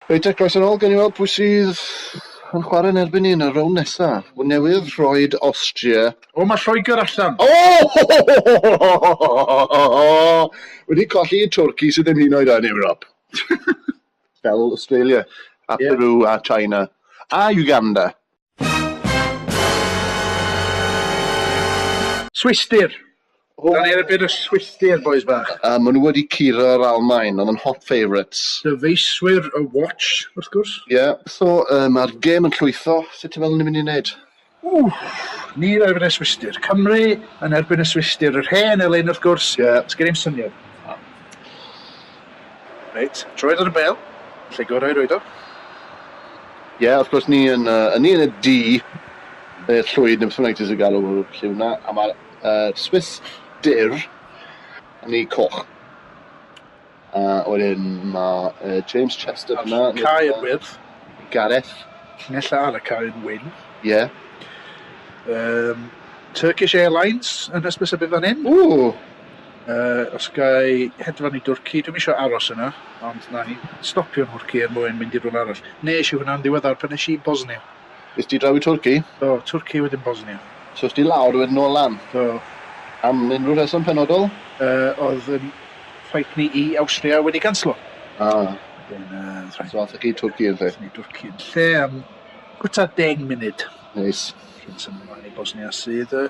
Reit agos yn ol, gawn ni weld pwy sydd yn chware yn erbyn ni yn y rownd nesa. Hwn newydd, rhoed Austria. O ma Lloegr allan. O! Wedi colli i Twrci sydd ddim hyd yn oed yn Ewrop. Fel Australia a Peru a China a Uganda. Swistir! Da ni erbyn y Swistir, bois bach. A maen nhw wedi curo'r Almaen, oedd yn hot favourites. Dyfeiswyr y Watch, wrth gwrs. Ie, yeah. so uh, mae'r gêm yn llwytho, sut ti'n meddwl ni'n mynd i wneud? Wff, ni erbyn y Swistir. Cymru yn erbyn y Swistir, yr hen elyn wrth gwrs. Ie. Yeah. Sgen i'm syniad. Reit, troed ar y bel, lle gorau i roed o? Ie, yeah, wrth gwrs, ni yn, uh, ni yn y du, neu'r llwyd, neu beth bynnag ti'n galw lle hwnna, a mae'r uh, Swiss dur yn ei coch. A wedyn mae uh, James Chester yna. Cai yn wyrdd. Gareth. Nella ar y cai yn wyn. Ie. Yeah. Um, Turkish Airlines yn hysbys y bydd fan hyn. Ww! Uh, os gai hedfan i Dwrci, dwi'n eisiau aros yna, ond na i stopio yn Hwrci er mwyn mynd i rhywle arall. Nes i hwnna'n ddiweddar pan nes i Bosnia. Is ti draw i Twrci? Do, Twrci wedyn Bosnia. So is ti lawr wedyn nôl lan? Do. Am unrhyw rheswm penodol? Uh, oedd yn ffaith ni i Austria wedi ganslo. Ah. Wedyn, uh, so athach chi Twrci yn lle? Ni Twrci yn lle am gwta deng munud. Neis. Cyn symud mlaen i Bosnia sydd... Uh,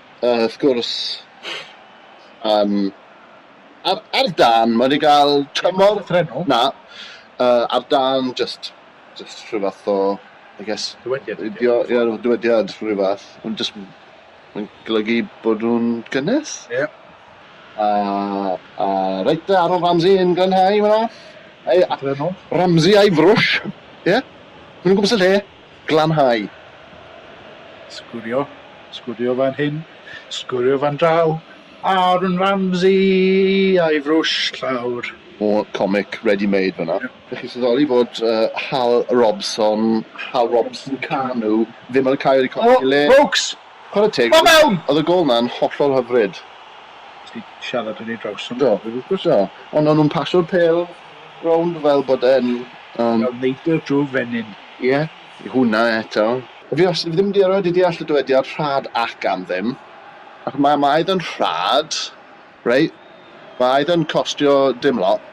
yy wrth gwrs, yym, ar ar dân, mae wedi cael tymor... Ddim llythrennol? Na, yy, ar dân jyst jyst rhyw fath o, I guess... Dywediad ydy o. ...dio, ie, rhyw dywediad rhyw fath, ond jyst m- mae'n golygu bod nhw'n gynnes. Ie. A a reit dda, Aaron Ramsey yn glanhau fan'na. Ei a-... Llythrennol? ...Ramsey a'i frwsh, ie? Maen nhw'n gwmpas y lle. Glanhau. Sgorio. Sgorio fan hyn. Sgorio fan draw. Aaron Ramsey a'i frwsh llawr. O comic ready made fanna. Dych chi'n sylweddoli fod uh, Hal Robson, Hal Robson Canu, ddim yn cael ei colli le. O, Brooks! Chwarae teg. Ma mewn! Oedd y gol na'n hollol hyfryd. Ti siarad yn ei draws yn Do, do. Ond o'n nhw'n pasio'r pel rownd fel bod e'n... Um... Fel neidr drwy fenyn. Ie, i hwnna eto. Fi wastad wedi mynd i erioed i deall y dywediad rhad ac am ddim. Ac mae mae eitha'n rhad, reit? Mae eitha'n costio dim lot.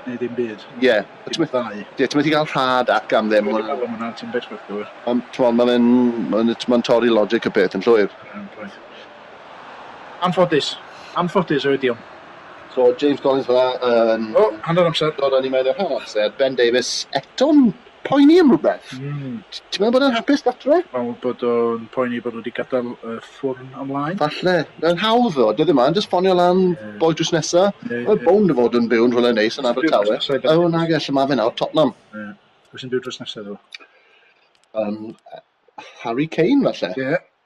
Neu ddim byd. Ie. Dim y ddau. Ie, ti methu cael rhad ac am ddim. Dwi wedi meddwl am hwnna, ti'n bit quick though. Ond t'mod ma' fe'n ma' n- t'mod torri logic y peth yn llwyr. Yn llwyr. Anffodus. Anffodus yw'r idiom. So James Collins fel 'a yn... O, hanner amser. ...dod â ni mewn i'r rhan amser. Ben Davies eto'n poeni am rhywbeth. Mm. Ti'n meddwl bod e'n hapus gatre? Meddwl bod o'n poeni bod nhw wedi gadael y ffwrn ymlaen. Falle. Mae'n hawdd ddo, dyddie ma, jyst ffonio lan yeah. boi drws nesa. Yeah, Mae'n yeah. bound o fod yn byw yn rhywle neis yn Abertawe. O, nag e, lle mae fe nawr, Tottenham. Yeah. Pwy sy'n byw drws nesa ddo? Um, Harry Kane falle. Ie. Yeah.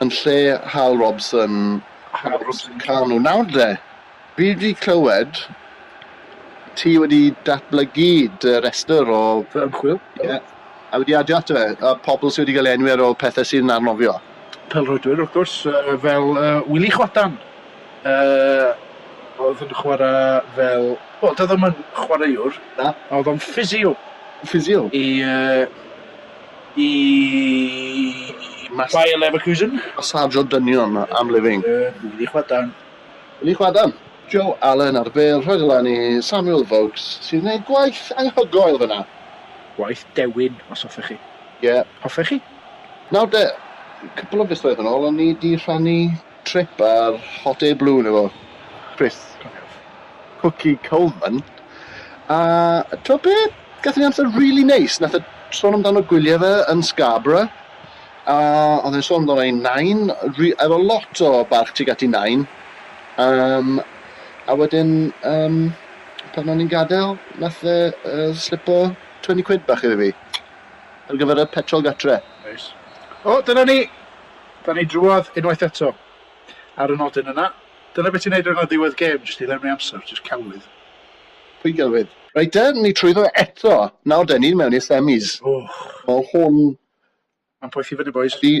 yn lle Hal Robson. Hal Robson Kanu. Nawr de, fi wedi clywed ti wedi datblygu dy restr o... Fy ymchwil. Ie. Yeah. A wedi adio ato fe, a pobl sydd wedi cael enwi ar ôl pethau sy'n arnofio. Pelrhoedwyr, wrth gwrs, uh, fel uh, Willie Chwadan. Uh, oedd yn chwarae fel... Wel, doedd o'n chwaraewr. Na. Oedd o'n ffisio. Ffisio? I... Uh, Y Bayer Leverkusen. Sergio Dynion am Living. Wili Chwadan. Wili Chwadan. Joe Allen ar bêl rhoed lan i Samuel Vokes sy'n gwneud gwaith anghygoel fyna. Gwaith dewin, os hoffech chi. Ie. Hoffech chi? Nawr de, cwpl o fisoedd yn ôl o'n i 'di rhannu Trip ar hot air balloon efo Chris, cofiwch. Cookie Coleman. A t'o' be'? Gathon ni amser rili neis. Nath e sôn amdano gwylie fe yn Scarborough, a o'dd e'n sôn amdano 'i nain, ri- efo lot o barch tuag at 'i nain. Yym, a wedyn, yym, pan o'n i'n gadel, nath e yy slipo twenty quid bach iddo fi ar gyfer y petrol gatre. Neis. O, dyna ni! Da ni drwodd unwaith eto. Ar y nodyn yna, dyna be ti'n neud rhaglan ddiwedd gêm, jyst i lenwi amser, jyst celwydd. Pwy gelwydd? Reit de, ni trwyddo eto. Nawr de, ni'n mewn i'r semis. Wch. Mae hwn... Mae'n poethi fyny bois. Ydi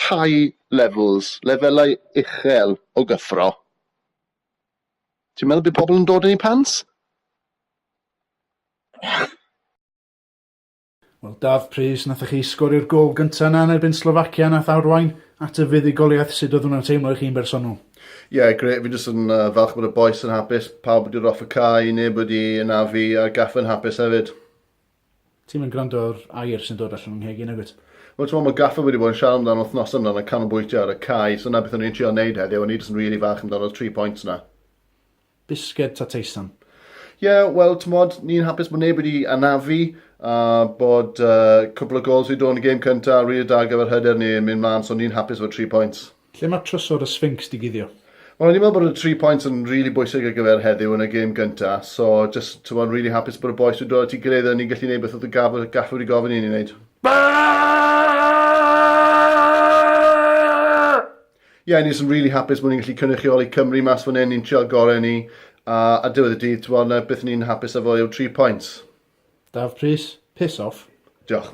high levels, lefelau uchel o gyffro. Ti'n meddwl bydd pobl yn dod yn ei pants? Wel Daf prys nathoch chi sgorio'r gol gynta yna yn erbyn Slovacia nath arwain at y fuddugoliaeth sud oedd hwnna'n teimlo i chi'n bersonol? Ie yeah, gret, fi jyst yn uh, falch bod y boes yn hapus, pawb wedi roff y cae, neb wedi ynafu a'r gaffa yn hapus hefyd. Ti'n mynd gwrando ar air sy'n dod allan o'n nghegin agwyd? Wel, ti'n mae gaffa wedi bod yn siarad amdano wythnos yna yn canolbwyntio ar y cae, so na beth o'n i'n trio wneud heddiw, o'n i jyst yn rili really fach amdano'r 3 points yna. Bisged ta teisan? Ie, wel, t'mod, ni'n hapus bod neb wedi anafu, a bod uh, cwpl o gols wedi dod yn y gêm cynta, a rili da ar gyfer hyder ni yn mynd mlaen, so ni'n hapus efo 3 points. Lle mae trysor y Sphinx di guddio? Wel, o'n i'n meddwl bod y 3 points yn rili really bwysig ar gyfer heddiw yn y gêm gynta, so just, ti'n bod, really hapus bod y boys wedi dod at ei gilydd a ni'n gallu gwneud beth oedd y gafr, gafr wedi gofyn i ni wneud. Baa! yeah, ni'n just really hapus bod ni'n gallu cynrychioli Cymru mas fan hyn, ni'n trial gorau ni, a a diwedd y dydd, ti'n bod, beth ni'n hapus â fo yw'r 3 points. Daf Prys, piss off. Diolch.